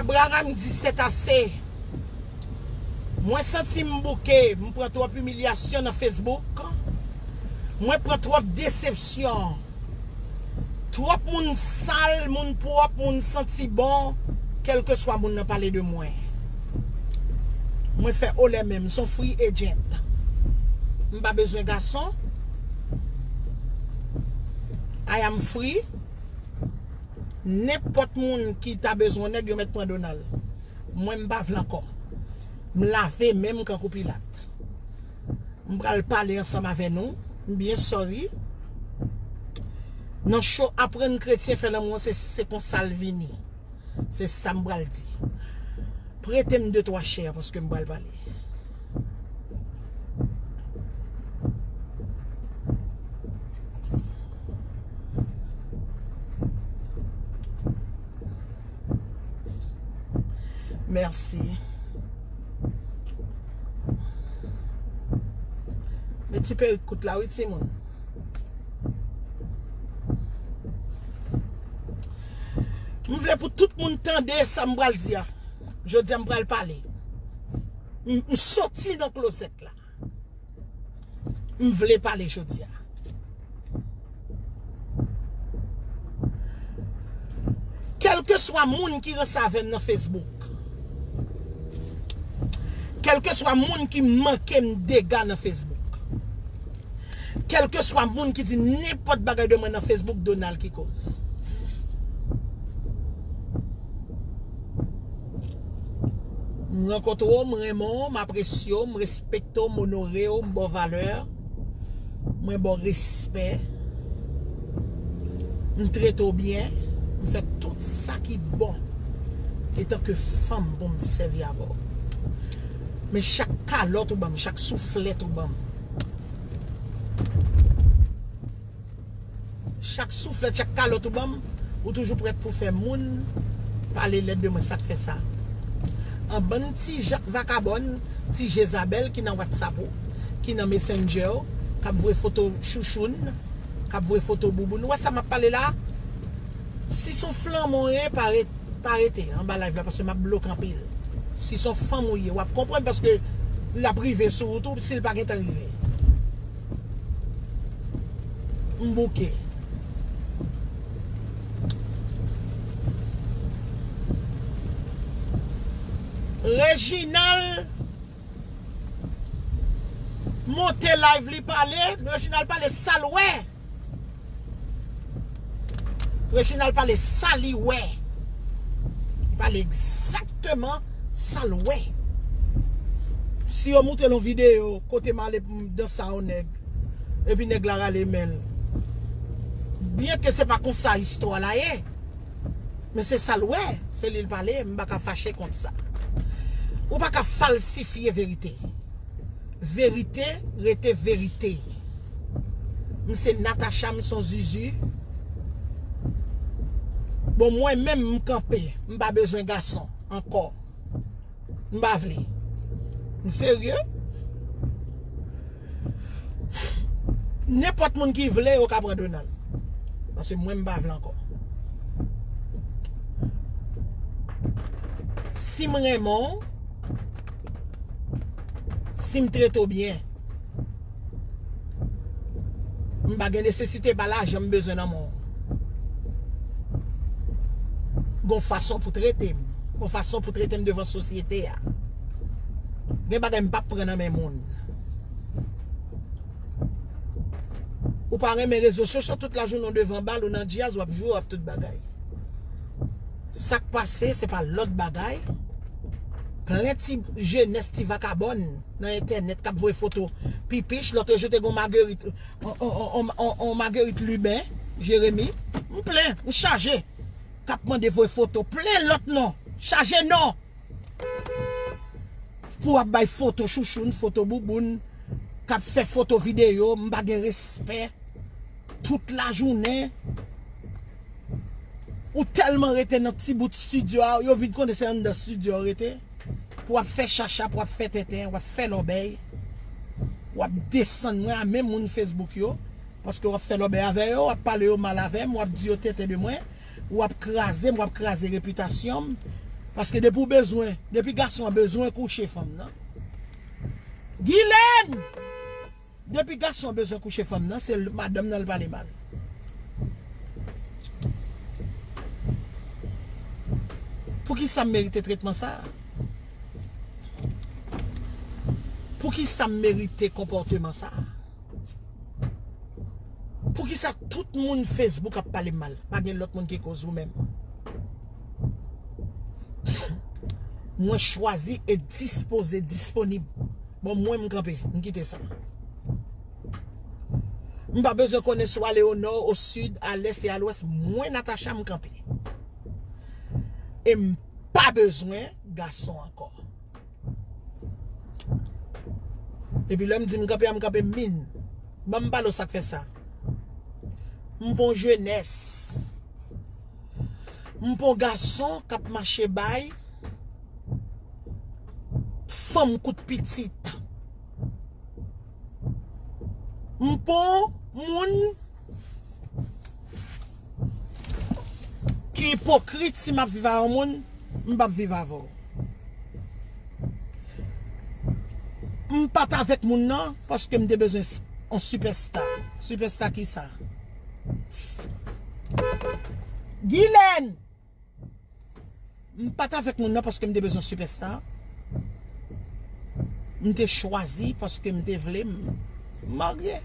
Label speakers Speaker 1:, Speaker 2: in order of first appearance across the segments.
Speaker 1: Abraham di sètase mwen santim bouke mpran tròp imilyasyon nan Facebook mwen pran tròp desepsyon. Trop moun sal moun prop moun santi bon kelkeswa moun nan pale de mwen mwen fè olè menm m son free agent m pa bezwen gason I am free nenpot moun ki ta bezwen neg yo met pran Donald mwen m pa vle anko m lave menm kankou pilat. M pral pale ansanm avè nou. M byen sorry. Nan cho aprann kretyen fè lanmou an se se konsa l vini. Se sa m pral di. Prete m de twa chè paske m pral pale. Merci. Men ti perik kout la wi ti moun. M vle pou tout moun tande sa m pral di a. Jodi a m pral pale. M soti nan klozèt la. m vle pale jodi a. Kèlkeswa moun ki ranse avè m nan Facebook, kèlkeswa moun ki manke m dega nan Facebook, kèlkeswa moun ki di nenpòt bagay de mwen nan Facebook, Donald ki koz. M rankontre w, m renmen w, m apresye w, m respekte w, m onore w, m ba w valè, mwen ba w respè, m trete w byen, m fè tout sa ki bon etanke fanm pou m sèvi avè w. Men chak kalòt ou ban m, chak souflèt ou ban m. Chak souflèt, chak kalòt ou banm, ou toujou prèt pou fè moun pale lèd de mwen, sak fè sa? An bann ti jak vakabòn, ti jezabèl ki nan whatsapp ou, ki nan messenger ou, kap voye foto chouchoun, kap voye foto bouboun, ou wè sa map pale la? Si son flanm ou ye, pa ret, pa rete anba live la paske map bloke anpil. Si son fanm ou ye, wap konprann paske lap rive sou ou tou, sil pa gentan rive. M bouke. Reginald monte live li pale. Reginald pale sal wè. Reginald pale sa li wè. Li pale exactement sa l wè. Si yo moutrel yon video kote m ale pou m danse a yon nèg epi nèg la rale men l. Byen ke se pa konsa istwa la ye. Men se sa l wè, se li l pale, m pa ka fache kont sa. Ou pa ka falsifye verite. Verite rete verite. M se Natacha m son zuzu. Bon mwen menm m kanpe m pa bezwen gason ankò m pa vle m serye nenpòt moun ki vle yo ka pran Donald paske mwen m pa vle ankò si m renmen w. Si m trete w byen, m pa gen nesesite, e pa lajan m bezwen nan men w. Gen yon fason pou trete m. Gen yon fason pou trete m devan sosyete a. Gen bagay m pap pran nan men moun. Ou pa renmen rezo sosyo, tout lajounen w devan bal, ou nan djaz, w ap jwe, w ap tout bagay. Sak pase se pa lòt bagay Plen ti jenès ti vakabòn nan entènèt kap voye foto pipich lòtre jou te gon magerit on magerit liben jeremi m plen m chaje kap mande voye foto plen lòt non chaje non pou ap bay foto chouchoun foto bouboun kap fè foto videyo m pa gen respè. Tout la jounen Ou telman rete nan ti bout studio a yo vin konnen se anndan studio a ou rete pou wap fè chachap wap fè tenten wap fè lòbèy wap desann mwen a menm moun Facebook yo paske wap fè lòbèy avè yo wap pale yo mal avèm wap di yo tenten de mwen wap krazem wap kraze repitasyonm paske depi ou bezwen depi gason an bezwen kouche fanm nan Guylaine! Depi gason bezwen kouche fanm nan se madanm nan li pale mal. Poukisam merite tretman sa? Poukisam merite konpòteman sa? Poukisa tout moun Facebook ap palem mal? Pa gen lòt moun ki koz ou menm. Mwen chwazi e dispoze disponib. Bon mwen m kanpe, m kite sa. M pa bezwen konnen si w ale o nò, o sid, a lès e a lwès, mwen Natacha m kanpe. E m pa bezwen gason ankò. E pi lè m di m kanpe a m kanpe min. Ban m pale w sa k fè sa. M pou jenès. M pon gason kap mache bay fanm kout pitit. M pon moun ki ipokrit si map viv a yon moun m pap viv avè w. M pat avèk moun nan paske m te bezwen yon sipèsta. Sipèsta kisa? Psst Guylaine M pat avèk moun nan paske m te bezwen sipèsta M te chwazi paske m te vle m marye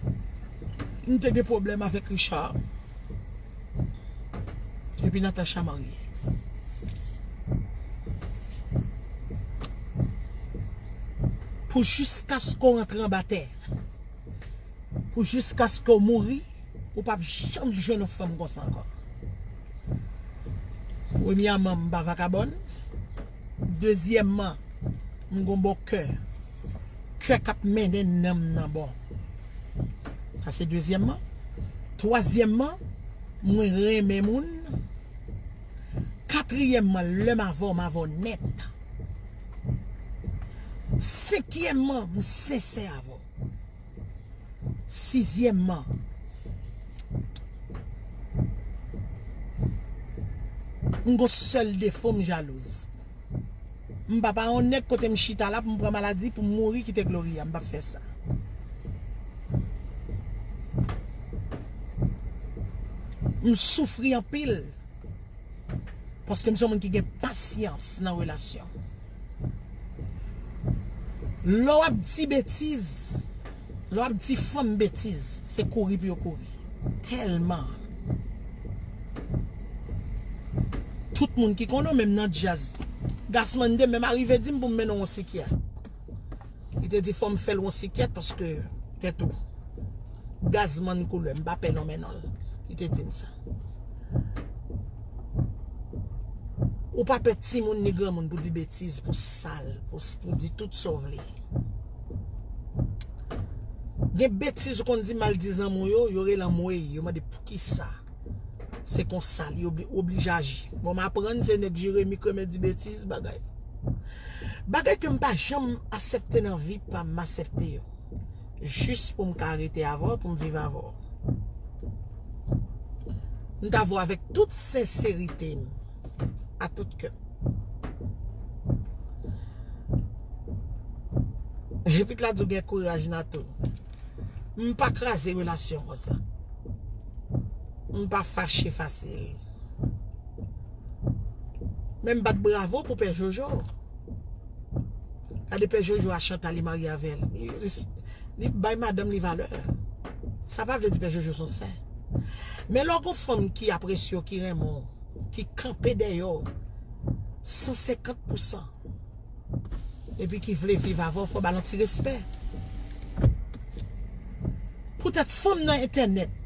Speaker 1: M te gen pwoblèm avèk Richard Epi Natacha marye Pou jiskaske w rantre anba tè. pou jiskaske w mouri ou pap janm jwenn yon fanm konsa ankò premyèman m pa vakabòn dezyèman m gon bon kè kè k ap mennen nanm nan bon sa se dezyèman twazyèman mwen renmen moun katriyèman lè m avè w m avè w nèt senkyèman m sensè avè w. Sizyèmman, m gon sèl defo m jalouz. M pa pa yon nèg kote m chita la pou m pran maladi pou m mouri kite Gloria, m pap fè sa. M soufri anpil paske m se yon moun ki gen pasyans nan relasyon. Lè w ap di betiz, lè w ap di fanm betiz, se kouri pou yo kouri. Tèlman. Tout moun ki konnen w, menm nan djaz. Gassman 2, menm arive di m pou m mennen w yon sikyat. Li te di fòm fèl yon sikyèt paske tèt ou gazman koulè m pa pè non men non li te dim sa Ou pa pè timoun ni granmoun pou di betiz pou sal pou di tout sa w vle Gen betiz ou konn di mal di zanmi w yo yo rele anmwey yo mande poukisa. Se konsa li oblije aji. Bon m aprann se nèg Jeremi k renmen di betiz bagay. Bagay ke m pa janm asepte nan vi pa m, m asepte yo. Jis pou m ka rete avè w, pou m viv avè w. M ta vwe avèk tout senserite m, a tout kè m. Epi k la di w gen kouraj Nathoo. M pa kraze relasyon konsa. M pa fache fasil. Men m bat bravo pou pè Jojo. Gade pè Jojo a Chantal li marye avè l. Li bay madanm li valè. Sa pa vle di pè Jojo son sen. Men lè w gon fanm ki apresye w, ki renmen w, ki kanpe dèyè w 150 pousan. Epi ki vle viv avè w fò ba l yon ti respè. Poutèt fanm nan entènèt.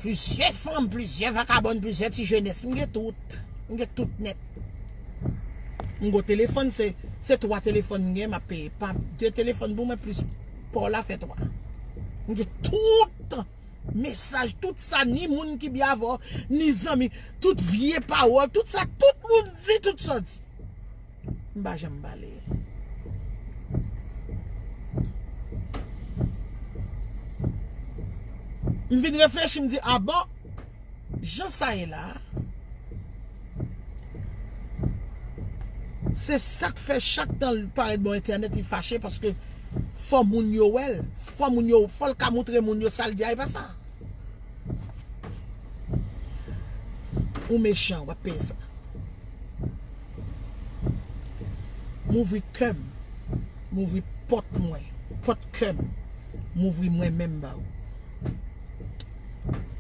Speaker 1: Plizyè fanm, plizyè vakabòn, plizyè ti jenès. M gen tout. M gen tout nèt. M gen yon telefòn, se 3 telefòn m gen m ap peye. Pap 2 telefòn pou mwen plis pa w la fè 3. M gen tout. Mesaj tout sa ni moun ki byen avèw ni zanmi tout vye pawòl tout sa tout moun di tout sa w di m pa janm pale. M vin reflechi m di a bon. Jan sa ye la a, se sa k fè chak tan l parèt bò entènèt li fache paske fò moun yo wè l, fò moun yo, fò l ka moutre moun yo sa l di a e pa sa. Ou mechan, w ap peye sa. M ouvri kè m, m ouvri pòt mwen, pòt kè m, m ouvri mwen menm ba ou.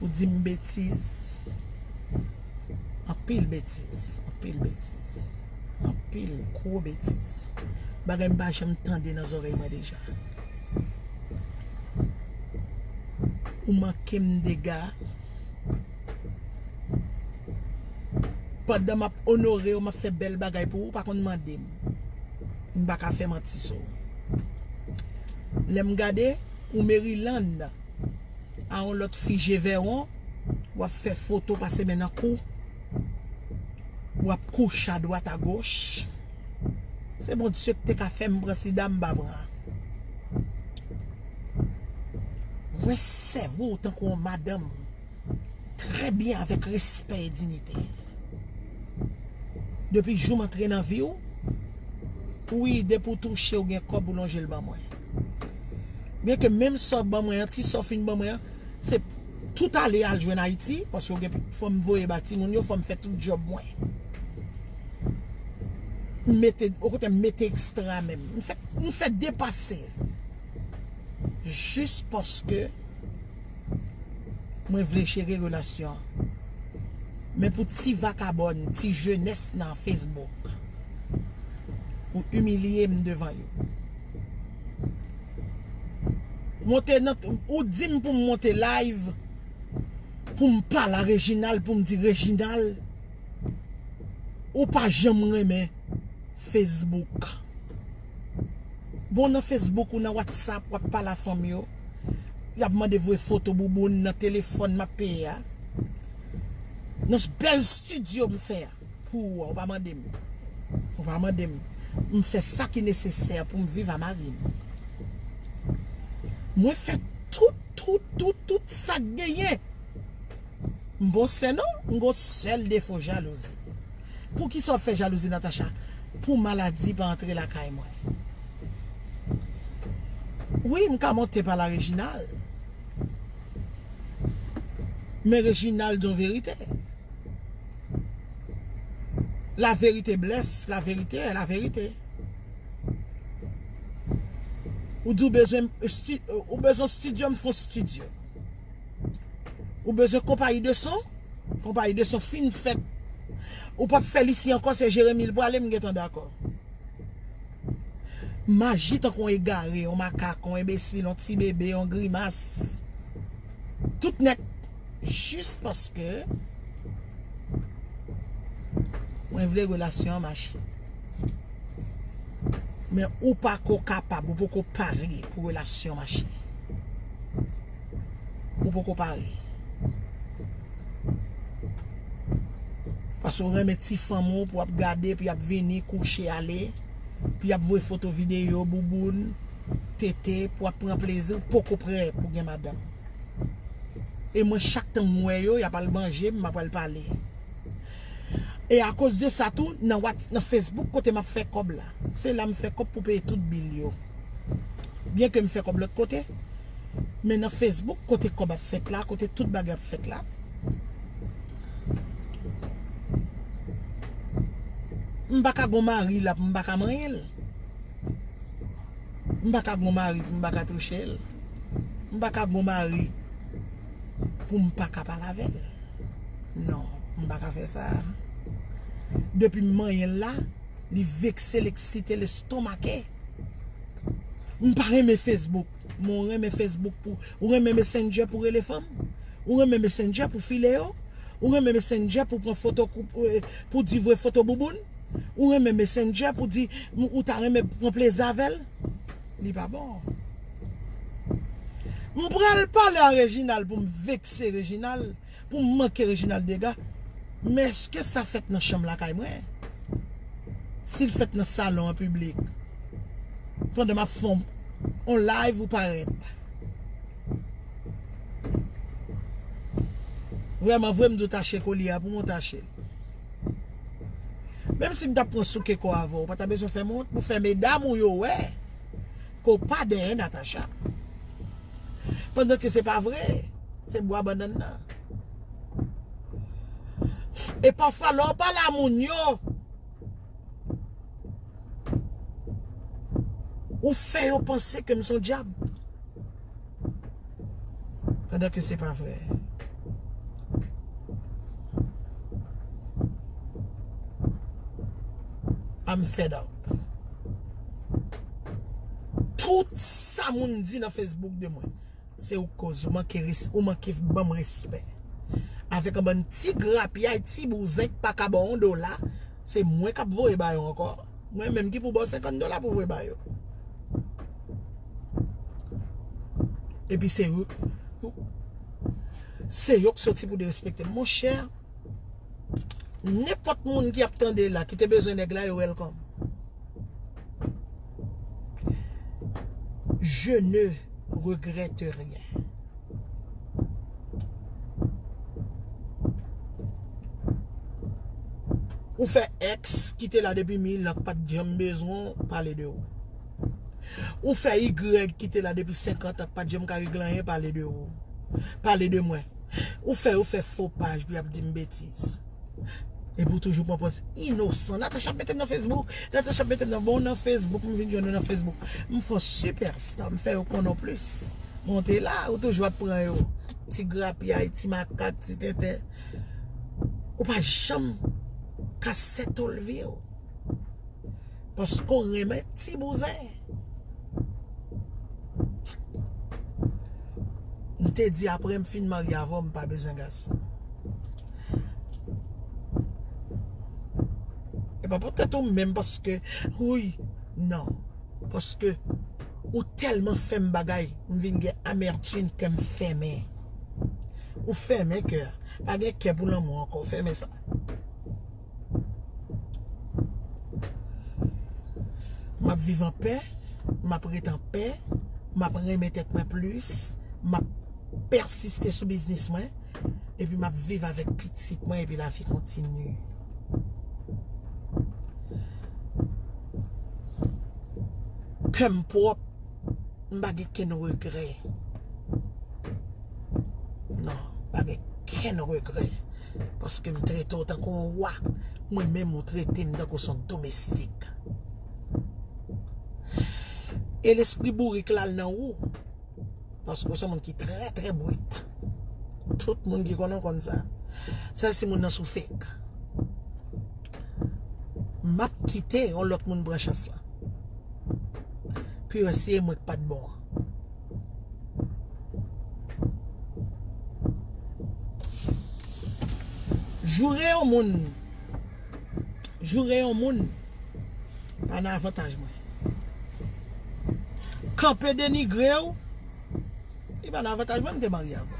Speaker 1: Ou di m betiz. Anpil betiz. Anpil betiz. Anpil gwo betiz. Bagay m pa janm tande nan zorèy mwen deja. Ou manke m dega. Pandan m ap onore ou, m ap fè bèl bagay pou ou, ou pa konn mande m. M pa ka fè manti sou ou. Lè m gade ou Maryland. A on lot fi je vèron wap fè foto pase men nan kou wap kouche a dwat a goch se bondye ki te ka fèm pran sida m pa pran mwen sèvi w tankou on madanm trè byen avèk respè e dinite depi jou m antre nan vi w wi depi w touche w gen kob ou lonje l ban mwen. Byen ke menm sa w ban mwen an, ti sa w fin ban mwen an, se tout ale al jwenn Ayiti, paske w gen, fò m voye ba timoun yo, fò m fè tout djòb mwen. M mete, yon kote m mete ekstra menm. M fè, m fè depase. Jis paske mwen vle jere relasyon an. Men pou ti vakabòn, ti jenès nan Facebook, pou imilye m devan yo. Monte nan ou dim poum monte live poum pale a Reginald poum di Reginald ou pa janm renmen Facebook bon nan Facebook ou nan WhatsApp wap pale a fanm yo yap mande voye foto bouboun nan telefòn map peye a nan bèl studio m fè a. Pou ou a, ou pa mande m. Ou pa mande m. M fè sa ki nesesè pou m viv a mari m. Mwen fè tout, tout, tout, tout sa k genyen. M bon sè non, m gon sèl defo, jalouzi. Poukisa w fè jalouzi Natacha? Pou maladi pa antre lakay mwen. Wi, m ka monte pale a Reginald. Men Reginald di yon verite. La verite bless la verite e la verite Ou di ou bezwen Ou bezwen studio m fon studio Ou bezwen konpayi de son Konpayi de son fin fèt Ou pap fè l isi ankò se Jeremi l prale m gentan dakò Maji tankou yon egare yon makak yon enbesil yon ti bebe yon grimas Tout nèt Jis paske mwen vle relasyon an mache. Men ou pa ko kapab, ou pa ko pare pou relasyon mache. Ou pa ko pare. Paske ou renmen ti fanm ou pou ap gade, pou ap vini, kouche, ale, pou ap vwe foto video, bouboun, tete, pou ap pran plezi, ou pa ko pare pou gen madanm. E mwen chak tan m wè yo, y ap al manje, m ap al pale. E akoz de sa tou, nan whats, nan Facebook kote m ap fè kòb la. Se la m fè kòb pou peye tout bil yo. Byen ke m fè kòb lòt kote, men nan Facebook kote kòb ap fèt la, kote tout bagay ap fèt la. M pa ka gon mari la pou m pa ka manyen l. M pa ka gon mari pou m pa ka touche l. M pa ka bon mari pou m pa ka pale avè l. Non, m pa ka fè sa. Depi m manyen l la, li vekse l, eksite l, estomake. M pa renmen Facebook. Men w renmen Facebook pou, ou renmen Messenger pou rele fanm? Ou renmen Messenger pou file yo? Ou renmen Messenger pou pran foto, pou di vre foto bouboun? Ou renmen Messenger pou di ou ta renmen pran plezi avè l? Li pa bon. M pral pale a Reginald pou m vekse Reginald, pou m manke Reginald dega. Men eske sa fèt nan chanm lakay mwen? Si l fèt nan salon an piblik, pandan m ap fè yon live ou parèt. Vrèmanvre m di w tache kolye a pou mwen tache l. Menm si m tap pran souke kò avèw, ou pa ta bezwen fèm wont pou fè medam ou yo wè ke w pa dèyè Natacha. Pandan ke se pa vre, se bwa bannann nan. E pafwa lè w pale a moun yo, ou fè yo panse ke m son dyab. Pandan ke se pa vre. I'm fed up. Tout sa moun di nan Facebook de mwen. Se ou koz ou manke res, ou manke banm respè. Avek an bann ti grapyay, ti bouzen k pa ka baw on dola, se mwen kap voye bayo anko. Mwen menm ki pou baw 50 dola pou voye ba yo. Epi se yo Se yo k soti pou derespektem Mon chè Nenpòt moun ki ap tande la Ki te bezwen nèg la yo welcome Je ne regrette rien Ou fè ex ki te la depi 1000 an ki pat janm bezwen w pale de ou. Ou fè y ki te la depi 50 an ki pat janm ka regle anyen pale de ou. Pale de mwen. Ou fè yo fè fo paj pou y ap di m betiz. Epi w toujou pran pòz inosan. Natacha ap mete m nan Facebook. Natacha ap mete m nan. Bon w nan Facebook. M vin jwenn ou nan Facebook. M fè w sipèsta. M fè yo konnen w plis. Men w te la. Ou toujou ap pran yo. Ti grapyay. Ti makak. Ti tenten. Ou pa janm ka sètolve w. Paske ou renmen ti bouzen. M te di apre m fin marye avè w m pa bezwen gason. E pa pou tèt ou menm paske wouyy nan. Paske ou telman fè m bagay m vin gen amertume kè m fèmen. Ou fèmen kè. Pa gen kè pou lanmou ankò. Fèmen sa. M ap viv an pè, m ap ret an pè, m ap renmen tèt mwen plis, m ap pèsiste sou biznis mwen, epi m ap viv avèk pitit mwen epi lavi kontinye. Kè m pwòp. M pa gen kenn regrè non m pa gen kenn regrè paske m trete w tankou yon wa mwen menm ou trete m tankou son domestik e lespri bourik la al nan ou paske w son moun ki trè trè brut tout moun ki konnen w konn sa sèl si moun nan sou fek m ap kite yon lòt moun pran chans lan. Pou yo se mwen ki pat bon an. Joure yon moun. Joure yon moun. Pa nan avantaj mwen. Kanpe denigre ou. Li pa nan avantaj mwen m te marye avèw.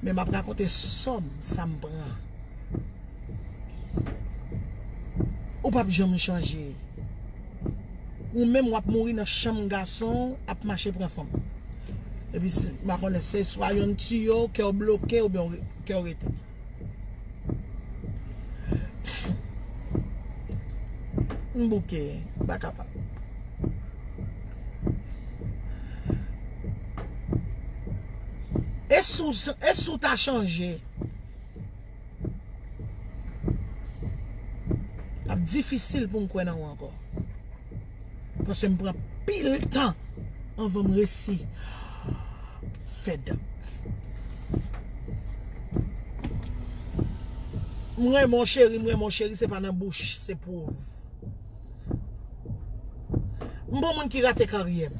Speaker 1: Men map rakonte sòm sa m pran. Ou pap janm chanje. Ou menm wap mouri nan chanm gason ap mache pran fanm. Epi ma konnen se swa yonn tiye w kew bloke ou byen kew rete. M bouke, m pa kapab. E si w ta chanje? Lap difisil poum kwè nan ou ankò. Paske m pran pil tan anvan m resi fed up. M renmen w cheri, m renmen w cheri se pa nan bouch, se pwouv. M pa w moun ki rate karyè m.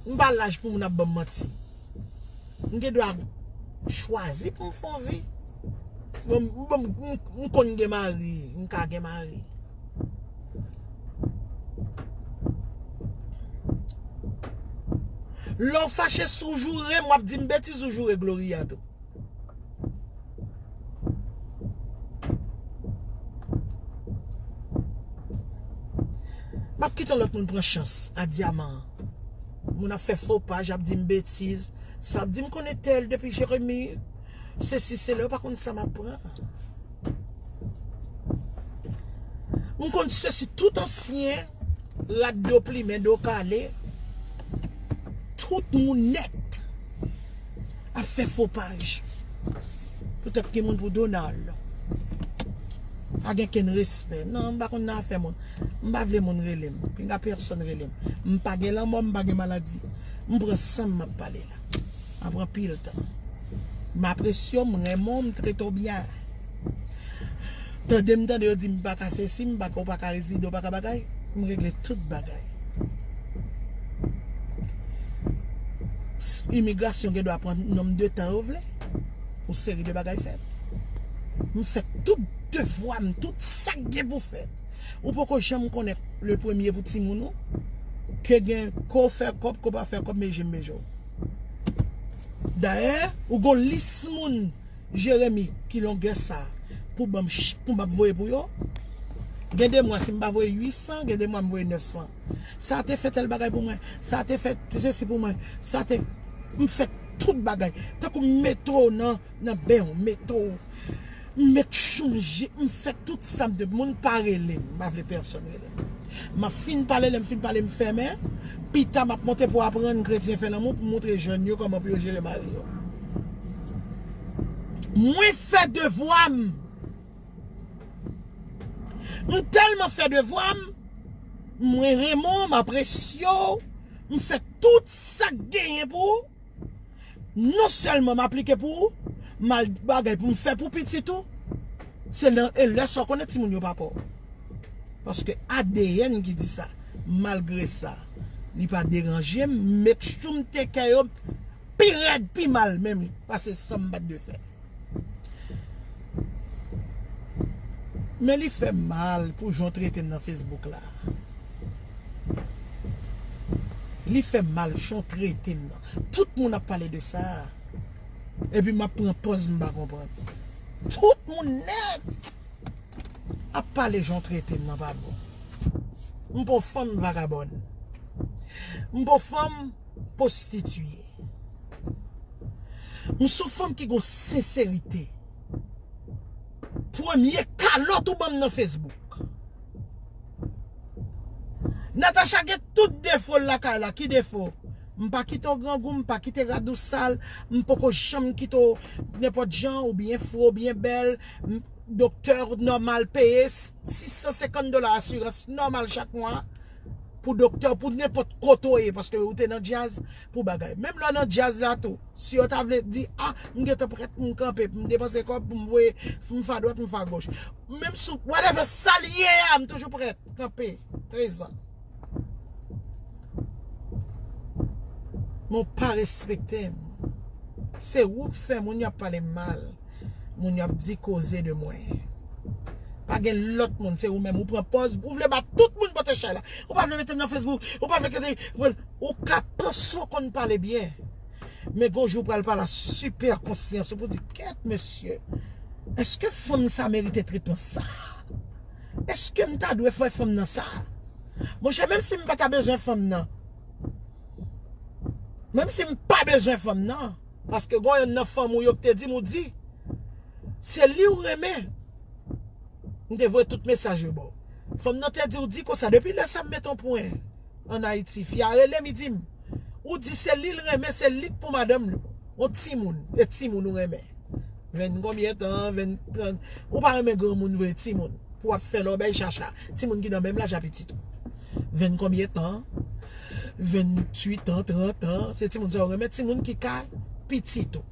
Speaker 1: M pa laj pou moun ap banm manti. M gen dwa chwazi pou m fè yon vi. M konn gen mari, m ka gen mari. Lè w fache si w joure m, w ap di m betiz ou joure Gloria tou. M ap kite lòt moun pran chans a dyaman an. Moun ap fè fo paj ap dim betiz sa ap dim konektel depi jeremi se si se le ou pa konn sa map pran m konn se si tout ansyen rad do plimen do kale tout moun net ap fè fo paj pou tèt ki moun pou Donald pa gen ken respè nan m pa konn nan afè moun m pa vle moun rele m pinga pèsòn rele m m pa gen lanmò m pa gen maladi m pran san m ap pale la m ap pran pil tan m apresye w m renmen w m trete w byen. Tande m tande yo di m paka sesi m paka ou paka rezide ou paka bagay m regle tout bagay imigrasyon gen dwa pran nom de tan yo vle pou seri de bagay fèt m fè tout devwa m tout sak gen pou fèt ou poko janm konnen le premye pou timoun ou ke gen ke w fè kòb ke w pa fè kòb me je m beje w dayè ou gon lis moun. Jeremi ki longè sa pou banm pou map voye pou yo gen de mwa sim pa voye 800 gen de mwa m voye 900 sa te fè tèl bagay pou mwen sa te fè te sesi pou mwen sa te m fè tout bagay tankou m mete w nan nan ben w mete w m make sure m fè tout sa m te moun pa rele m m pa vle pèsòn rele m. Map fin pale lèm fin pale m fèmen, pita map monte pou aprann kretyen fè lanmou pou moutre jèn yo kòman pou yo jere mari yo. Mwen fè devwa m. M tèlman fè devwa m, mwen renmen w, m apresye w, m fè tout sak genyen pou ou. Non sèlman m aplike pou ou, m al gen bagay pou m fè pou pitit ou. Se lè e lè sa w konnen timoun yo pa pa w. Paske adn ki di sa. Malgre sa, li pa deranje m, make sure m take care yo pi rèd, pi mal menm pase sa m pa t dwe fè. Men li fèm mal pou jan w tretem nan Facebook la. Li fèm mal jan w tretem nan. Tout moun ap pale de sa. Epi map pran pòz m pa konprann. Tout moun nèt ap pale jan w tretem nan pa bon. M pa w fanm vagabòn. M pa w fanm pwostitiye. M son fanm ki gon senserite. Premye kalòt ou banm nan Facebook. Natacha gen tout defo l lakay la ki defo? M pa kite w grangou m pa kite rad ou sal m poko janm kite w nenpòt jan ou byen fre ou byen bèl doktè w nòmal peye 650 dola asirans nòmal chak mwa Pou doktè pou nenpòt kote w ye paske ou te nan djaz pou bagay. Menm lè w nan djaz la tou si yo ta vle di a m gentan prèt pou m kanpe pou m depanse kòb pou m voye m fè adwat m fè agoch. Menm sou whatever sa l ye a m toujou prèt kanpe prezan. Men w pa respekte m. Se ou k fè moun y ap pale m mal. Moun yo ap di koze de mwen. Pa gen lòt moun se ou menm ou pran pòz ou vle ba tout moun pote chay la. Ou pa vle mete m nan Facebook, ou pa vle ke ou ka panse ou konn pale byen. Men gon jou ou pral pale a sipè konsyans ou pou di kèt mesye. Eske fanm sa merite tretman sa? Eske m ta dwe fè fanm nan sa? Mon chè menm si m pa ta bezwen fanm nan. Menm si m pa bezwen fanm nan. Paske gon yonn nan fanm ou yo ki te dim ou di se li ou renmen m te voye tout mesaj yo baw fanm nan te diw di konsa depi lè sa m met on pwen an ayiti fi a relem li dim ou di se li l renmen se li k pou madanm l on timoun e timoun ou renmen. Vin konbyen tan vin tran ou pa renmen granmoun vre ti moun pou wap fè lòbèy chacha ti moun ki nan menm laj a pitit ou vin konbyen tan vin twit an tran tan se ti moun sa ou renmen ti moun ki ka pitit ou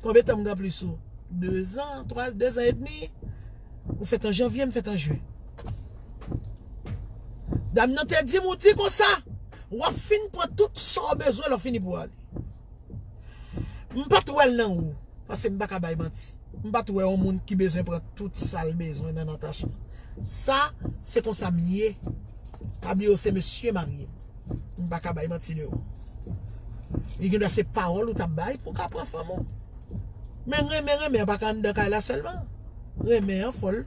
Speaker 1: konbyen tan m gen plis ou dezan twa dezan edmi ou fèt an janvye m fèt an jyen dam nan te di m ou di konsa wap fin pran tout sa ou bezwen lè w fini pou ale. M pat wèl nan ou Paske m paka bay manti M pat wè yon moun ki bezwen pran tout sal bezwen nan Natacha Sa se konsa m ye Pa bliye ou se mesye marye m M paka bay manti de ou Li gen dwa se pawòl ou tap bay pou ka pran fanm ou Men renmen renmen an paka anndan kay la sèlman Renmen an fòl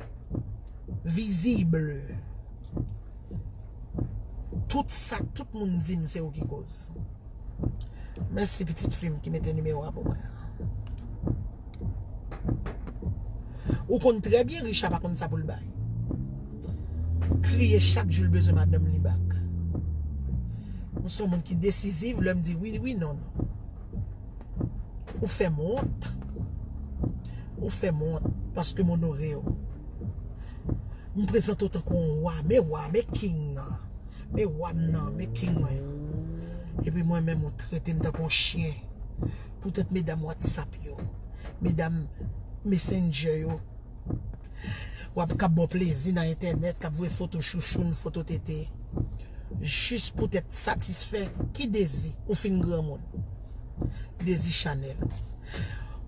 Speaker 1: visible Tout sa tout moun di m se ou ki koz. Mèsi pitit fi m ki mete nimewo a pou mwen an. Ou konn trè byen Richa pa konn sa pou l bay. Kriye chak jou l bezwen madanm li bak. Ou son moun ki desiziv lè m di wi wi non non. Ou fè m wont. Ou fè m wont paske m onore w. M prezante w tankou yon wa men wa men king nan. Me wa m nan, me king mwen yo. Epi mwen menm ou trete m tankou yon chyen. Poutèt medam whatsapp yo, medam messenger yo. Wap kap ba w plezi nan entènèt, kap voye foto chouchoun, foto tete. Jis poutèt satisfè ki dezi ou fin granmoun. Dezi chanèl.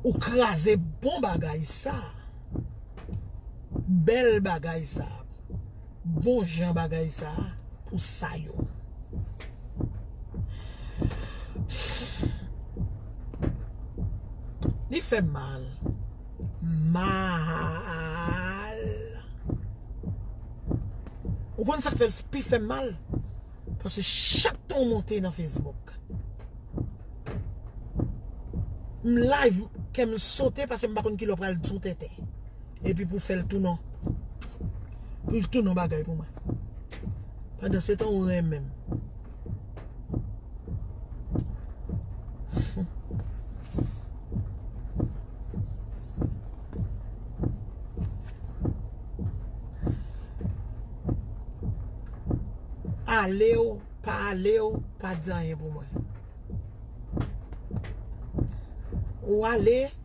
Speaker 1: Ou kraze bon bagay sa. Bèl bagay sa. bon jan bagay sa pou sa yo. Li fè m mal. Mal. Ou konn sa k fè l pi fè m mal? Paske chak tan ou monte nan Facebook. M live kè m sote paske m pa konn ki lè w pral di yon tenten. Epi pou fèl tou non. Poul tou non bagay pou mwen. Pandan se tan ou renmenm. Ale ou pa ale ou pa di anyen pou mwen. Ou ale.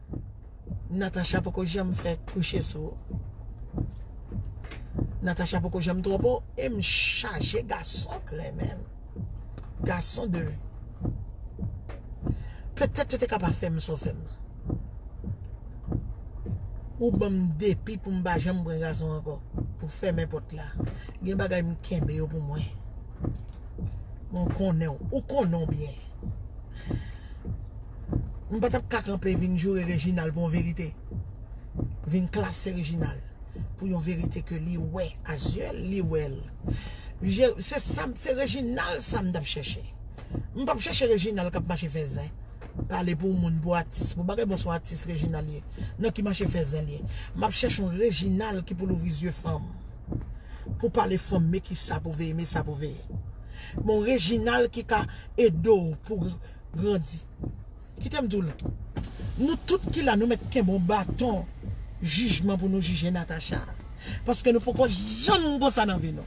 Speaker 1: Natacha poko janm fè kouche sou ou Natacha poko janm twòp ou e m chaje gason k renmen m gason de petèt yo te ka pa fè m sa w fè m nan ou ban m depi pou m pa janm pran gason ankò ou fèmen pòt la gen bagay m kenbe yo pou mwen m konnen w ou konnen w byen M pa tap ka kanpe vin joure Reginald pou yon verite. Vin klase Reginald pou yon verite ke li wè a zye l, li wè l. Se sa, se Reginald sa m tap chèche. M pap chèche Reginald kap mache fè zen. Pale pou moun, pou atis, pou bagay bon se yon atis Reginald ye. Non ki mache fè zen l ye. M ap chèche yon Reginald ki pou louvri zye fanm. Pou pale fanm, men kisa pou veye, men sa pou veye. Bon Reginald ki ka ede w pou grandi. Kite m di w l. Nou tout ki la nou mèt kenbe yon baton jijman pou nou jije Natacha. Paske nou poko janm konsa nan vi nou.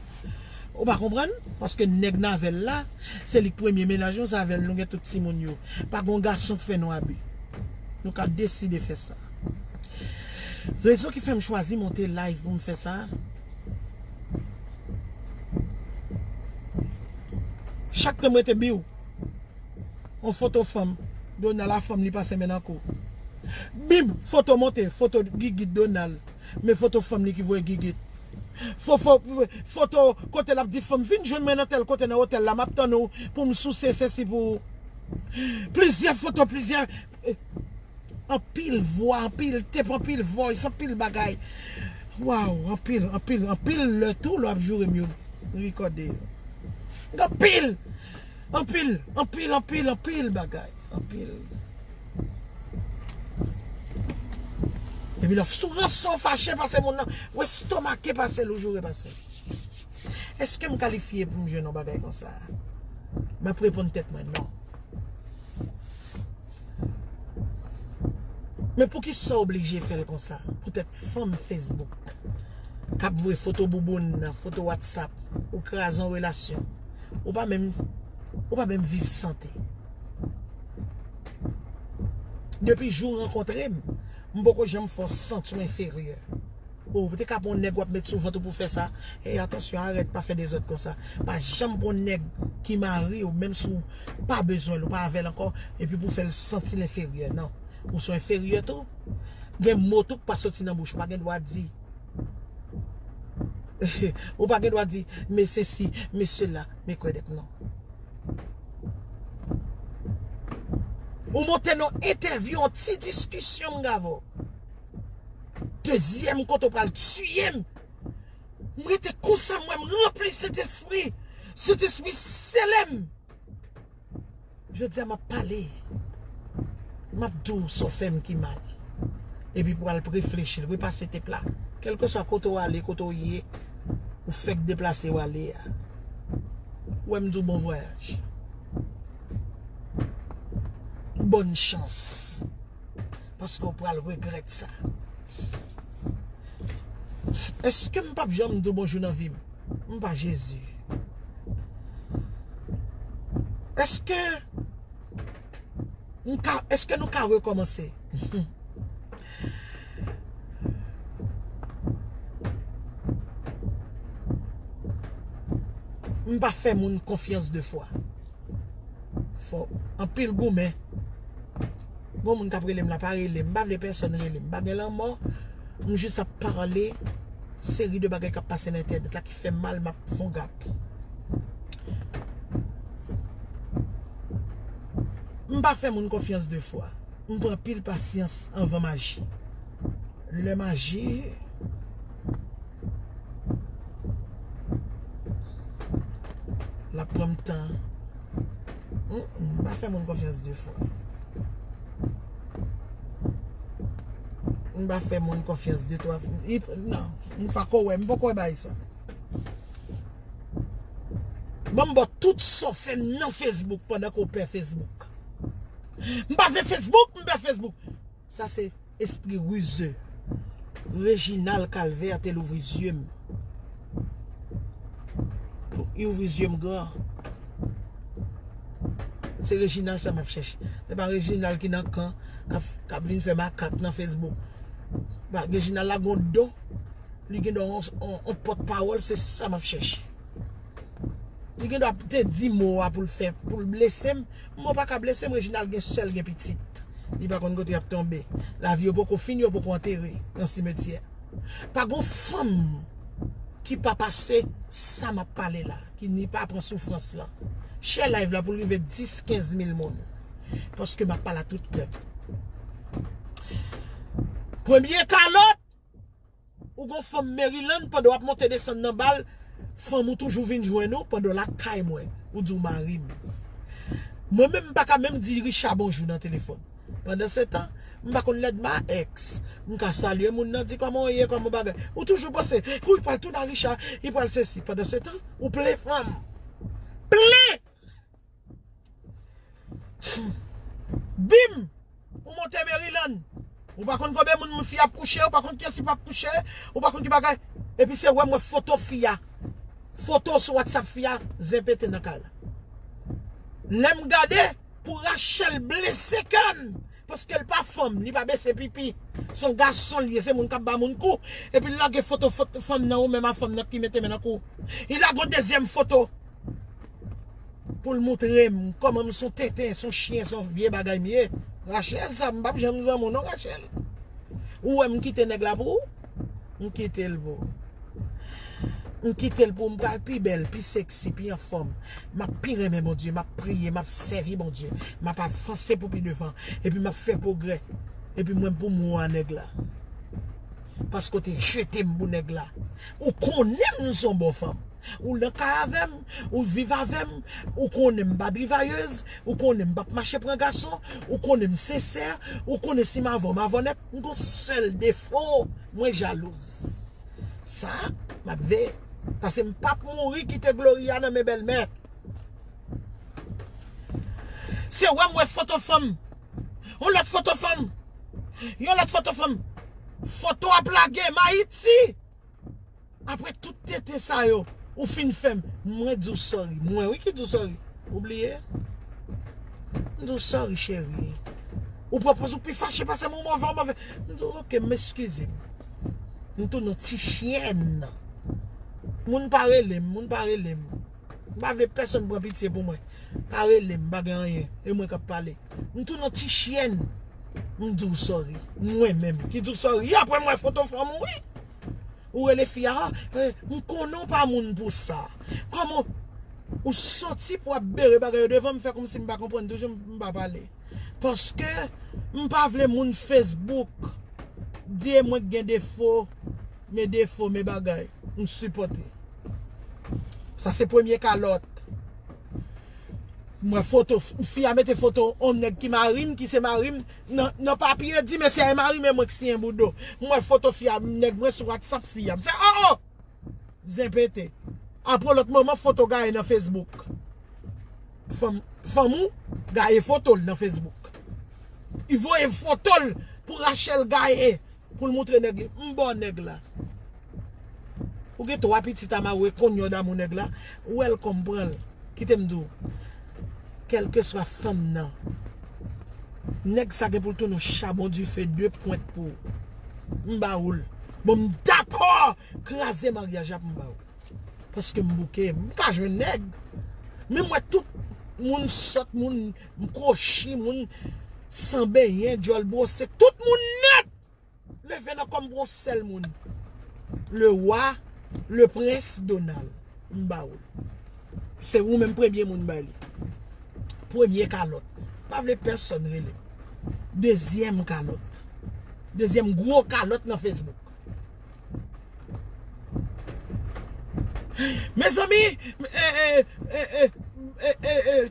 Speaker 1: Ou pa konprann? Paske nèg Navel la, se li k premye menaj nou, se avè l nou gen tout timoun yo. Pa gon gason k fè nou abi. Nou ka deside fè sa. Rezon ki fè m chwazi monte live pou m fè sa. Chak tan m rete biw. On foto fanm. Donald a fanm li pa semen nan ko. Bib foto monte. Foto gigit Donald. Men foto fanm li ki voye gigit. Fofo foto kote lap di fanm vin jwenn mwen nan tel kote nan hotel la map tann ou poum souse sesi pou ou. Plizyè foto plizyè Anpil vwa anpil tep anpil voice anpil bagay waw anpil anpil anpil lè tou lè wap jourem yo rekòde yo anpil anpil anpil anpil anpil bagay anpil epi lè sou ranse ou fache pase moun nan ou estomake pasel ou joure pasel eskem kalifye poum jwenn yon bagay konsa map reponn tèt mwen non. Men pouki sa oblije fè l konsa? Poutèt fanm Facebook k ap voye foto bouboun, foto Whatsapp, ou kraze yon relasyon. Ou pa menm, ou pa menm viv sante. Depi jou w rankontre m, m poko janm fè w santi w enferyè. Oh ou te ka pran yon nèg wap met sou vant ou pou fè sa Hey atansyon arèt pa fè dezòd konsa Pa janm pran yon nèg ki mariw menm si ou pa bezwenl ou pa avèl ankò epi pou fèl santil enferyè nan Ou son enferyè tou Gen mo tou k pa soti nan bouch ou pa gen dwa di Ou pa gen dwa di me sesi me sela me kwèdèk nan Ou monte nan entèvyou yon ti diskisyon mga vò. Dezyèm kote ou pral tuyem. M rete konsa m wè m ranpli sentespri. Sentespri selem. Jodia map pale. Map di w sa w fè m ki mal. Epi pou w al preflechi l. Repase tep la. Kelkeswa kote w ale, kote w ye. Ou fek deplase w ale a. Ou wè m di w bon vwayaj. Bòn chans. Paske ou pral regrèt sa. Eske m pap janm di w bonjou nan vi m? M pa Jezi. Eske m ka, eske nou ka rekòmanse? M pa fè moun konfyans de fwa. Fò anpil goumen. Gon moun kap relem la pa relem. M pa vle pèsòn relem. M pa gen lanmò. M jis ap pale. Seri de bagay kap pase nan entènèt la ki fèm mal m ap fon gap. M pa fè moun konfyans de fwa. M pran pil pasyans anvan m aji. Lè m aji. Lap pranm tan. Mpa fè moun konfyans 2 fwa. Mpa fè moun konfyans 2 3 fwa. Nan. Mpa ko wè. Mpa ko wè bay sa. Banm bo tout sa w fè nan Facebook pandan ke w pè Facebook. Mpa vle Facebook, mpa Facebook. Sa se espri rize. Reginald calvaire te louvri yeux m. Li ouvri yeux m gran. Se Reginald sa map chèche. Se pa Reginald ki nan kan kap vin fè makak nan Facebook. Reginald la gon don. Li gen don yon pot pawol se sa map chèche. Li gen dwa te di mo a pou l fè, pou l blese m. Mo pa ka blese m, Reginald gen sè l, gen pitit. Li pa konn kote y ap tonbe. Lavi yo poko fini, yo poko antere nan simetyè. Pa gon fanm ki pa pase sa m ap pale la, ki ni pa pran soufrans lan. Share live la pou l rive 10, 15 mil moun. Paske m ap pale a tout kè m. Premye kalòt! Ou gon fanm Maryland pandan wap monte desann nan bal fanm ou toujou vin jwenn ou pandan lakay mwen ou di ou marim mwen menm mpaka menm di Richard bonjou nan telefòn pandan se tan mpa konn lèd ma ex mka salye moun nan di kòman ou ye kòman bagay ou toujou panse kou li pral tounen a Richard li pral sesi pandan se tan ou plen fanm plen. Bim! Ou monte Maryland. Ou pa konn konbyen moun fi ap kouche, ou pa konn kiyès li pap kouche, ou pa konn ki bagay. Epi se wè m wè foto fi a. Foto sou WhatsApp fi a, zen pete nan kay la. Lè m gade, pou Rachel blese kè m. Paskel pa fanm li pa bese pipi. Son gason liye se moun kap ba moun kou epil lage foto fanm nan ou menm a fanm nan ki mete men nan kouw li lage yon dezyèm foto poul moutrem kòmanm son tenten son chyen son vye bagay m ye Rachel sa m pap janm zanm ou non Rachel ou wèm kite nèg la pou ou. M kite l pou ou. M kite l pou ou. M pral pi bèl, pi seksi, pi anfòm. M ap pi renmen Bondye. M ap priye. M ap sèvi Bondye. M ap avanse pou pi devan. Epi m ap fè pwogrè. Epi mwen pou m wou a nèg la. Paske w te jete m pou nèg la. Ou konnen m son bon fanm. Ou nan kay avè m. Ou viv avè m. Ou konnen m pa drivayèz. Ou konnen m pa p mache pran gason. Ou konnen m sensè. Ou konnen si m avè w m avè w nèt. M gon sel defo mwen jalouz. Sa map veye pase m pap mouri kite gloria nan men bèlmè. Se wèm wè foto fanm. Yon lot foto fanm. Yon lot foto fanm. Foto ap lage m ayiti. Apre tout tenten sa yo ou fin fèm mwen diw sorry mwen wi ki diw sorry ou bliye m diw sorry cheri ou pran poz ou pi fache pasem ou move ou move m diw ok m eskize m tounen yon ti chyèn moun pa relem moun pa relem m pa vle pèsòn pran pitye pou mwen pa relem m pa gen anyen e mwen kap pale. M tou non ti chyèn m di w sòri mwen menm ki di w sòri aprè m wè foto fanm ou wi ou rele fi a m konnen w pa moun pou sa kòman ou sòti pou ap bere bagay yo devan m fè kòmsi m pa konprann toujou m pa pale paske m pa vle moun facebook di e mwen k gen defo men defo men bagay m sipòte sa se premye kalòt M wè foto fi a mete foto on nèg ki mari m ki se mari m nan papye di mesye a e mari m e mwen k siyen boudo m wè foto fi a nèg mwen sou whatsapp fi a m fè oh oh zen pete aprè on lòt moman foto gaye nan facebook fanm ou gaye foto l nan facebook li voye foto l pou Rachelle gaye. Pou l moutre nèg li m baw nèg la Ou gen 3 pitit a maroue konye w damou nèg la Welcome pran l Kite m di w Kèlkeswa fanm nan Nèg sa gen pou l tounen w chabon dife 2 pwent pou M ba ou l Bon m dakò kraze maryaj la pou m ba ou Paske m bouke m pa jwenn nèg Men m wè tout moun sòt moun Mkochi moun San benyen dyòl brose tout moun nèt leve nan kòm pou yon sèl moun le roi le prince Donald mbawou se ou menm premye moun bay li premye kalòt mpa vle pèsòn relem dezyèm kalòt dezyèm gro kalòt nan Facebook. Mezanmi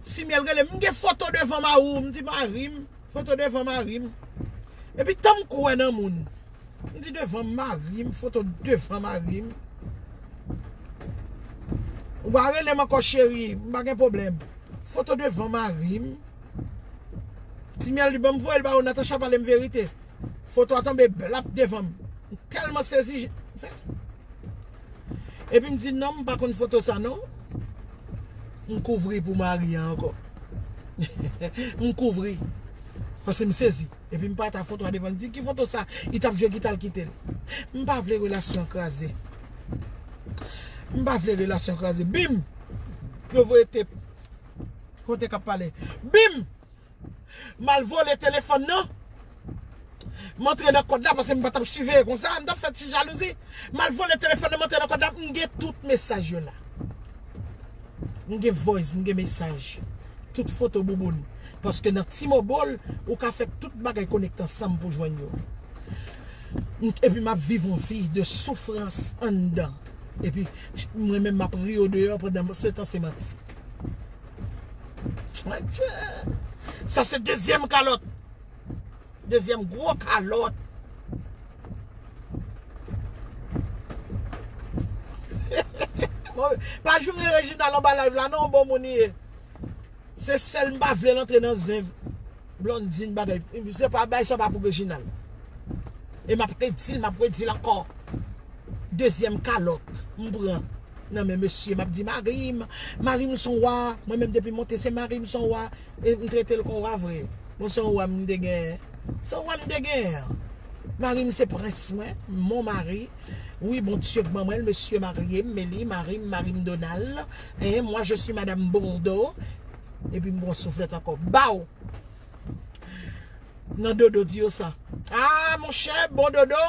Speaker 1: Ti miel rele m gen foto devan mari w m di mari m foto devan mari m epi tanm kwè nan moun m di devan mari m foto devan mari m ou pa rele m ankò cheri m pa gen pwoblèm foto devan mari m Ti miel di bon m voye l ba ou Natacha pale m verite. Foto a tonbe blap devan m. M telman sezi je m fè. Epi m di non m pa konn foto sa non. M kouvri pou mari an ankò. M kouvri. Pase m sezi. Epi m pa ta foto a devan l. M di ki foto sa. Li tap jwe gita l kite l. M pa vle relasyon an kraze. M pa vle relasyon an kraze. Bim! Yo voye tep. Kote kap pale. Bim! Mal vole telefòn nan. M antre nan kòd la pase m pa tap siveye konsa. M tap fè ti jalouzi. Mal vole telefòn nan m antre nan kòd la. M gen tout mesaj yo la. M gen voice, m gen mesaj. Tout foto bouboun. Paske nan T-Mobile, ou ka fè tout bagay konekte ansanm pou jwenn yo. Epi map viv yon vi de soufrans anndan. Epi mwen menm map ri yo deyò pandan setan se manti. Mwenche Sa se dezyèm kalòt Dezyèm gwo kalòt Pa joure Reginald anba live la non bon moun li ye Se sèl m pa vle l antre nan zen. Blondine bagay se pa bay sa pa pou Reginald e map redil map redil ankò dezyèm kalòt m pran nan men mesye map di marim marim son wa mwen menm depi monte se marim son wa e m tretel kon wa vre bon son wa m te gen son wa m te gen an marim se prens mwen mon mari wi bondye k ban mwen l mesye marye m me li marim marim donal e mwa je si madam bordo. Epi m pran souflèt ankò. Baw! Nan Dodo di yo sa. A monchè, bon Dodo!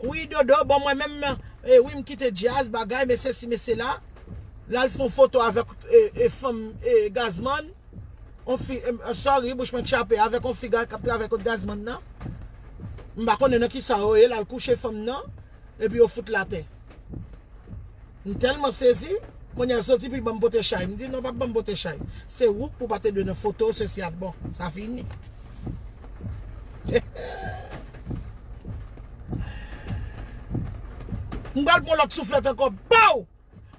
Speaker 1: Wi Dodo, bon mwen menm, e wi m kite djaz, bagay, men sesi men sela. La l fon foto avèk e fanm e Gazman. On fi, sorry, bouch mwen chape, avèk on fi k ap travay kot Gazman nan. M pa konnen nan kisa yo ye, la l kouche fanm nan. epi yo fout l atè. M tèlman sezi, kounye a l soti pou l ban m pote chay. M di, non pa ban m pote chay. Se ou k pou pa te dwe nan foto sesi ak bon. Sa fini. M pral pran lòt souflèt ankò. Pow!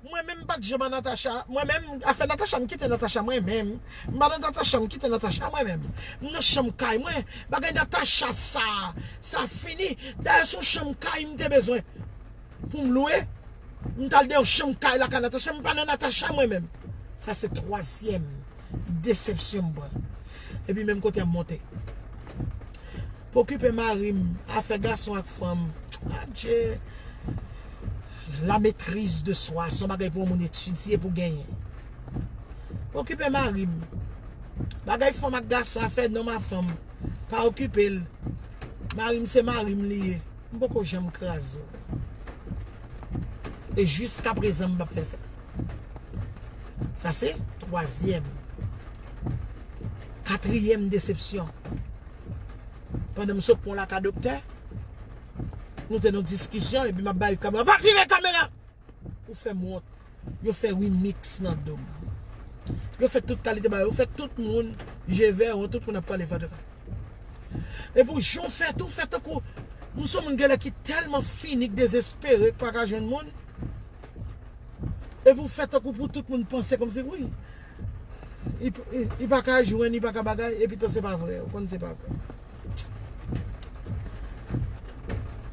Speaker 1: Mwen menm mpat janm a Natacha mwen menm afè Natacha mkite Natacha mwen menm mpa nan Natacha mkite Natacha mwen menm mnan chanm kay mwen bagay Natacha sa sa fini dayè son chanm kay mte bezwen poum lwe mtal nan yon chanm kay lakay Natacha mpa nan Natacha mwen menm sa se twazyèm desepsyon mpran epi menm kote yap monte. Pokipe marim afè gason ak fanm adje la metriz de swa son bagay pou yon moun etidye pou genyen pokipe marim bagay fanm ak gason afè nonm a fanm pa okipel marim se marim li ye m poko janm kraze w e jiska prezan m pap fè sa sa se twazyèm katriyèm desepsyon. Pandan m sou pon la ka doktè, nou te nan diskisyon epi m ap ba yo kamera, va vire kamera! Ou fè m wont. Yo fè remix nan do m. Yo fè tout kalite bagay. Yo fè tout moun je vè wont, tout moun ap pale fatra. Epi w jan w fè tou, w fè tankou, m son moun genlè ki tèlman fini, ki dezespere, ki pa ka jwenn moun, epi w fè tankou pou tout moun panse kòmsi, wi. Li paka jwenn li paka bagay epi tan se pa vre ou konn se pa vre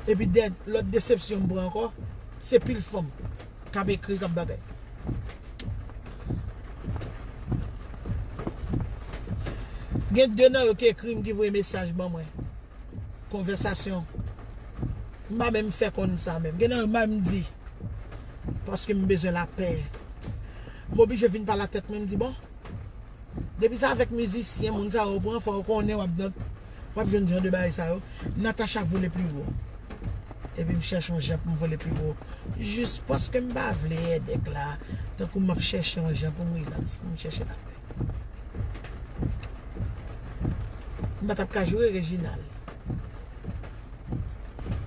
Speaker 1: epi lòt desepsyon m pran ankò se pil fanm kap ekri kap bagay gen de nan yo ki ekri m ki voye mesaj ban mwen. Konvèsasyon M pa menm fè konn sa menm. Gen nan yo bay m di. Paske m bezwen lapè. M oblije vin pale ak tèt mwen m di bon. Depi se avèk mizisyen moun sa yo ou pran fò ou konnen w ap nan w ap jwenn jan de bagay sa yo. Natacha vole pli wo. Epi m chèche yon jan pou m vole pli wo. Jis paske m pa vle èdèk la. Tankou m ap chèche yon jan pou m rilaks pou m chèche lapè. M pa tap ka joure Reginald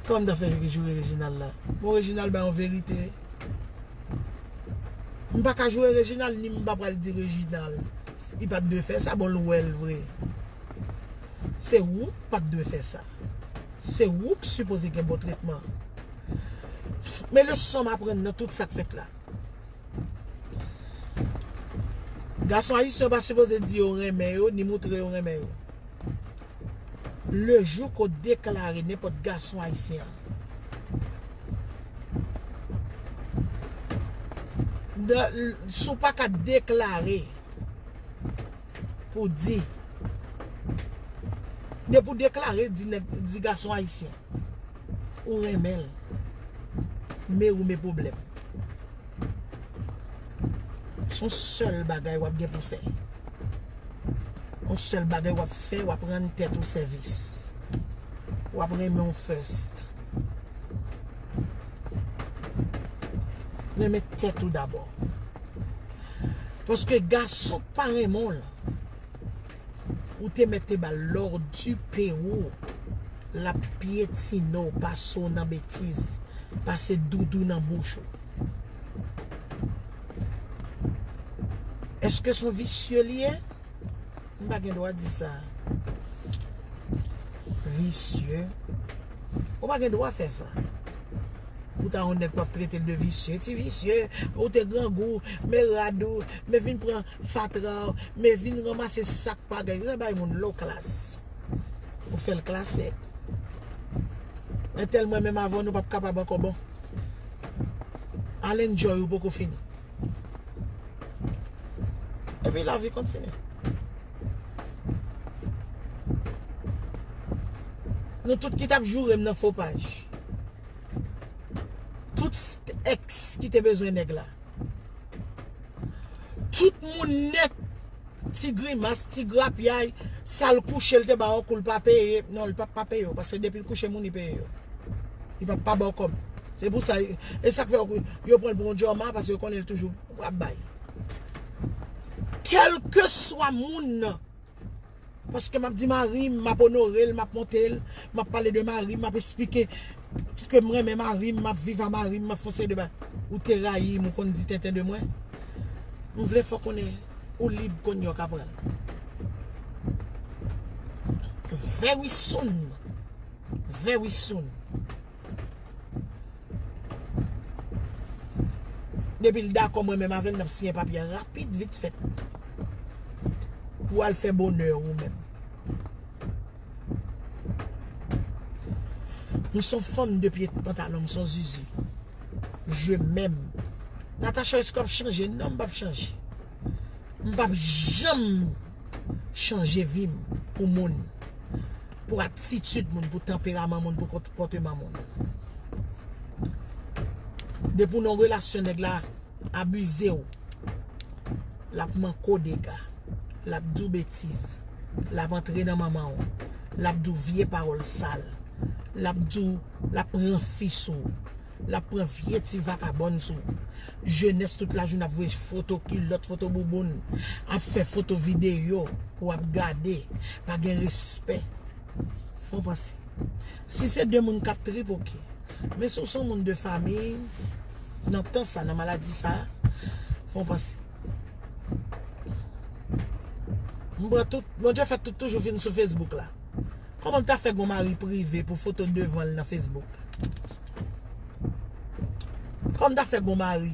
Speaker 1: Kòman m ta fè joure Reginald la Bon Reginald ba yon verite M pa ka joure Reginald ni m pa pral di Reginald li pat dwe fè sa bon l wè l vre Se ou k pat dwe fè sa Se ou k sipoze gen bon tretman Men leson m aprann nan tout sa k fèt la Gason ayisyen yo pa sipoze di yo renmen yo ni moutre yo renmen yo. Le jou ke w deklare nenpòt gason ayisyen an nan, si w paka deklare pou di, depi w deklare di nèg, di gason ayisyen. Ou renmen l. Mary me problem. Son sel bagay wap gen pou fe. On sel bagay wap fe wap rann tet ou sevis. Wap renmen w first. Renmen tet ou dabor. Paske gason k pa renmen w lan. Ou te mèt te bal lordu pe ou lap pyetine w pase w nan betiz pase doudou nan bouch ou Eske son visye li ye m pa gen dwa di sa visye ou pa gen dwa fè sa ou ta yon nèg wap trete l de visye ti visye ou te grangou me rad ou me vin pran Fatra w me vin ranmase sak pa gen yo bay moun lo klas ou fel klase entel mwen menm avè w nou pap kapab anko bon al enjoy ou poko fini epi la vi kontinye nou tout ki tap joure m nan fo paj tout ex ki te bezwen neg la. Tout moun nèt ti grimas ti grapyay sal kouche l te ba w kou l pa peye non l pap pa peye w paske depi l kouche moun li peye yo li pap pa ba w kòb se pou sa e sak fè yo pran l pou yon djòma paske yo konnen l toujou ap bay kèlkeswa moun nan Paske map di marim, map onorel, map montel, map pale de marim, map esplike kem renmen marim, map viv a marim, map fon seri de bagay. Ou te rayim, ou konn di tenten de mwen. M vle fè w konnen ou lib konn yon kapral. Very soon. Very soon. Depi l dakò mwen menm avè l n ap siyen papye a rapid vit fèt pou w al fè bonè w ou menm. M s on fanm de pye pantalon, m s on zuzu. Je m èm. Natacha èske w ap chanje? Non m p ap chanje. M p ap janm. chanje vi m pou moun, pou atitid moun, pou tanperaman moun, pou konpòteman moun. Depi w nan yon relasyon nèg la abize w, l ap manke w dega, l ap di w betiz, l ap antre nan manman w, l ap di w vye pawòl sal, l ap di w, l ap pran fi sou ou. Lap pran vye ti vakabòn sou jenès tout lajoune ap voye foto kilòt foto bouboun ap fè foto videyo pou ap gade pa gen respè fon panse si se de moun kap trip ok men si w son moun de famiy nan tan sa nan maladi sa fon panse m pran tout bondye fè tout toujou vin sou facebook la kòman m ta fè gon mari prive pou foto devan l nan facebook. Kòm ta fè gon mari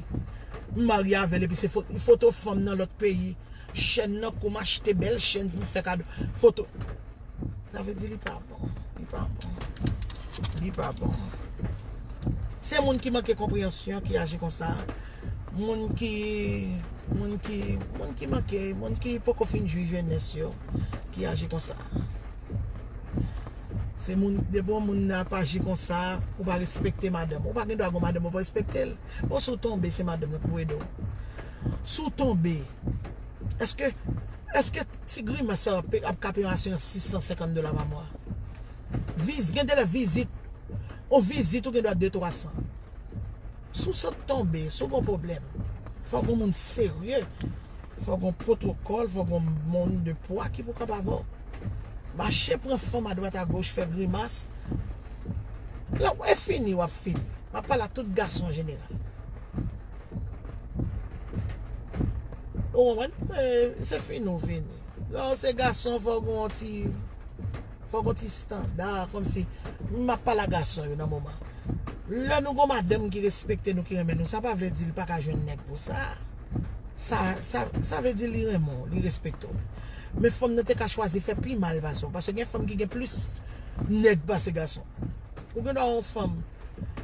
Speaker 1: m marye avèl epi se foto fanm nan lòt peyi chèn nan kou m achte bèl chèn pou m fè kado foto sa vle di li pa bon li pa bon li pa bon se moun ki manke konpreyansyon ki aji konsa moun ki moun ki moun ki manke moun ki poko fin jwi jenès yo ki aji konsa. Se moun depi yon moun ap aji konsa ou pa respekte madanm ou pa gen dwa gen yon madanm ou pa respekte l bon si w tonbe se madanm nan ki pou ede w si w tonbe èske èske ti grimas sa yo ap ka peye yon asirans 650 dola pa mwa viz gen de lè vizit yon vizit ou gen dwa 2 300 Si w sot tonbe, si w gen yon pwoblèm, fòk yon moun serye, fòk gen yon pwotokòl, fòk gen yon moun de pwa ki pou kanpe avè w. Mache pran fanm adwat agoch, fè grimas. Lè w fini, w ap fini. M ap pale a tout gason an jeneral. Ou konprann? Se fini ou fini. Lè w se gason, fòk gen yon ti. Fò gen yon ti standa kòmsi m ap pale a gason yo nan moman. Lè nou gen yon madanm ki respekte nou, ki renmen nou, sa pa vle di li pa ka jwenn nèg pou sa. Sa vle di li renmen w, li respekte w. Men fanm nan te ka chwazi fè pi mal pase w. Paske gen fanm ki gen plis nèg pase gason. Ou gen dwa wè yon fanm,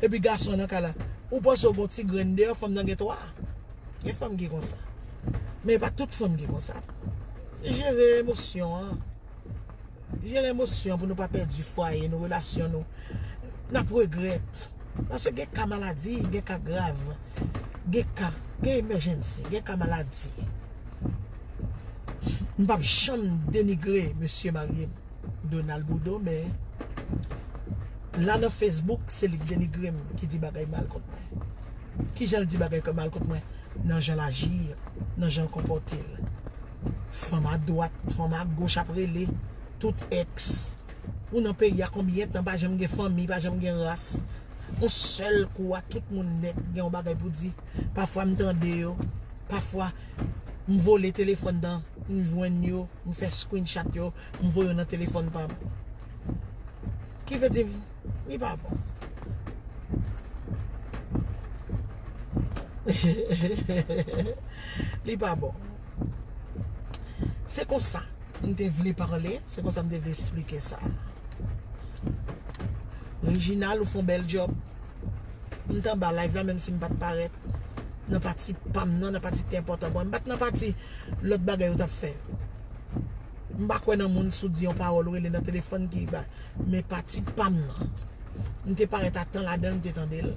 Speaker 1: epi gason nan kay la, ou panse w gen yon ti grenn deyò, fanm nan gen 3. Gen fanm ki konsa. Men e pa tout fanm ki konsa. Jere emosyon an. Jere emosyon pou nou pa pèdi fwaye nou, relasyon nou. N ap regrèt. Paske gen ka maladi, gen ka grav. Gen ka, gen emèjènsi, gen ka maladi. M pa p janm denigre mesye marye m, Donald Bourdeau, men la nan Facebook, se li k denigre m, ki di bagay mal kont mwen. Ki jan l di bagay mal kont mwen? Nan jan l aji, nan jan l konpòte l. Fanm a dwat, fanm a goch ap rele tout ex Ou nan peyi a konbyen tan pa janm gen fanmi, pa janm gen ras On sèl kou a tout moun nèt gen yon bagay pou di Pafwa m tande yo Pafwa m vole telefòn nan m jwenn yo M fè screenshot yo m voye yo nan telefòn pa m Ki vle di li pa bon Li pa bon Se konsa m te vle pale, se konsa m te vle esplike sa. Reginald ou fon bèl job. M t anba live la menm si m pat parèt nan pati pam nan, nan pati ki te enpòtan pou mwen. M pat nan pati lòt bagay yo t ap fè. M pa kwè nan moun si w di yon pawòl ou rele nan telefòn ki ba. Men pati pam nan, m te parèt a tan ladan l m te tande l.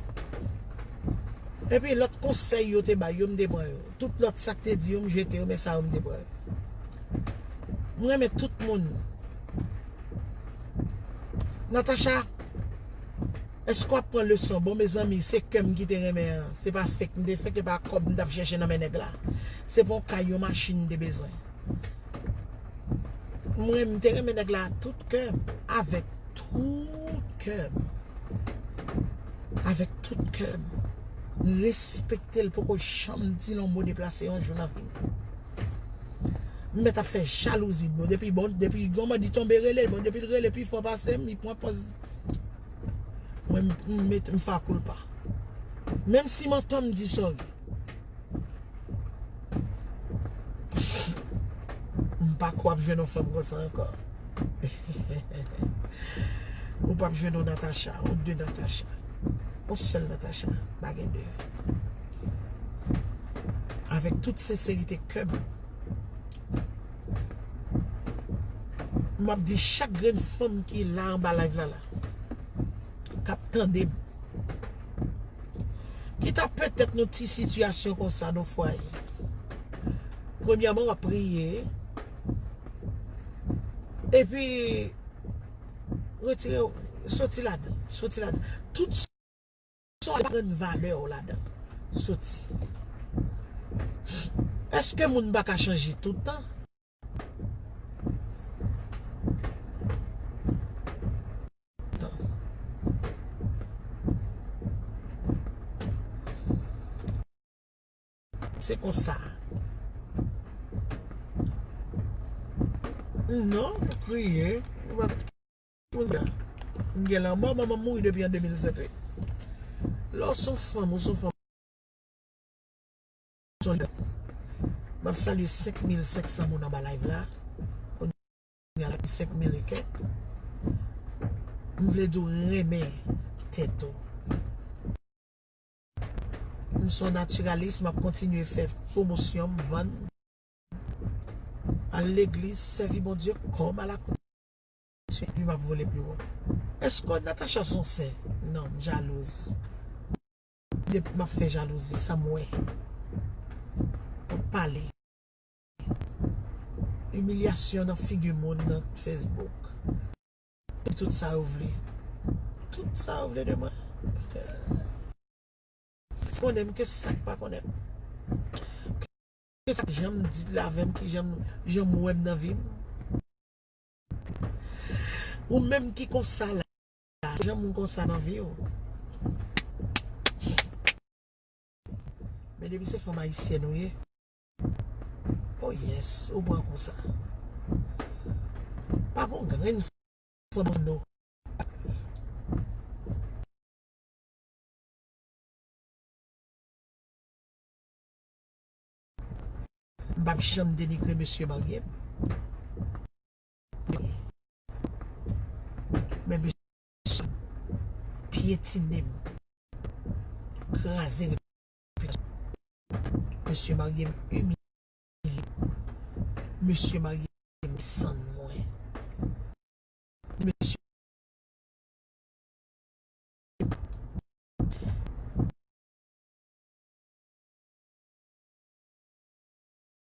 Speaker 1: Epi lòt konsèy yo te bay yo m te pran yo. Tout lòt sak te di yo m jete yo men sa yo m te pran. M renmen tout moun. Natacha Eske wap pran leson bon mezanmi se kèm ki te renmen an se pa fek m te fek e pa kòb m tap chèche nan men nèg la se pa yon kay yon machin m te bezwen m renmen m te renmen nèg la a tout kèm avèk tout kè m, avèk tout kè m, m respekte l poko janm di l yon mo deplase yon jou nan vi m. M mèt ap fè jalouzi bon, depi bon, depi yon bandi tonbe rele l, bon depi l rele pi fò pase m, li pran pòz mwen m mete m fa koulpa. Menm si manton m di sòri. M pa kwè w ap jwenn yon fanm konsa ankò. Ou pap jwenn yon Natacha, yon de Natacha. Yon sèl Natacha, pa gen de. Avèk tout senserite kè m. M ap di chak grenn fanm ki la anba live la la. kap tandem ki ta petèt nou ti sitiyasyon konsa nan fwaye premyèman wap priye epi retire ou soti ladan soti ladan tout sa ou pa jwenn valè ou ladan soti eske moun pa ka chanje toutan Se konsa. Non, mwen kriye. Mwen kriye. Mwen gen la mò, mwen mwen mou de pi an 2007. Lò sou fòm, mwen sou fòm. Soler. Map salye 5500 moun anba live la. Kounya la gen 5000 e kèk. M vle diw renmen tèt ou. M son naturaliste map kontinye fè pwomosyon m vann. Al legliz sèvi Bondye kòm alakoute. Epi map vole pi wo. Eske Natacha son sè? Non, m jalouz. Depi map fè jalouzi sa m wè wap pale. Imilyasyon nan figi moun nan Facebook. Di tout sa yo vle. Tout sa yo vle de mwen. Ki konnen m ki sak pa konnen m. Ki sak jan m di la avè m ki jan m wè m nan vi m. Ou menm ki konsa la. la. Ou janm konsa nan vi ou. Men depi se fanm ayisyèn ou ye. Oh yes, ou pran kou sa. Pa gon grenn fanm nan nou. M pap janm denigre mesye marye m. Men mesye sa pyetine m kraze repitasyon m mesye marye m imilye m mesye marye m desann mwen mesye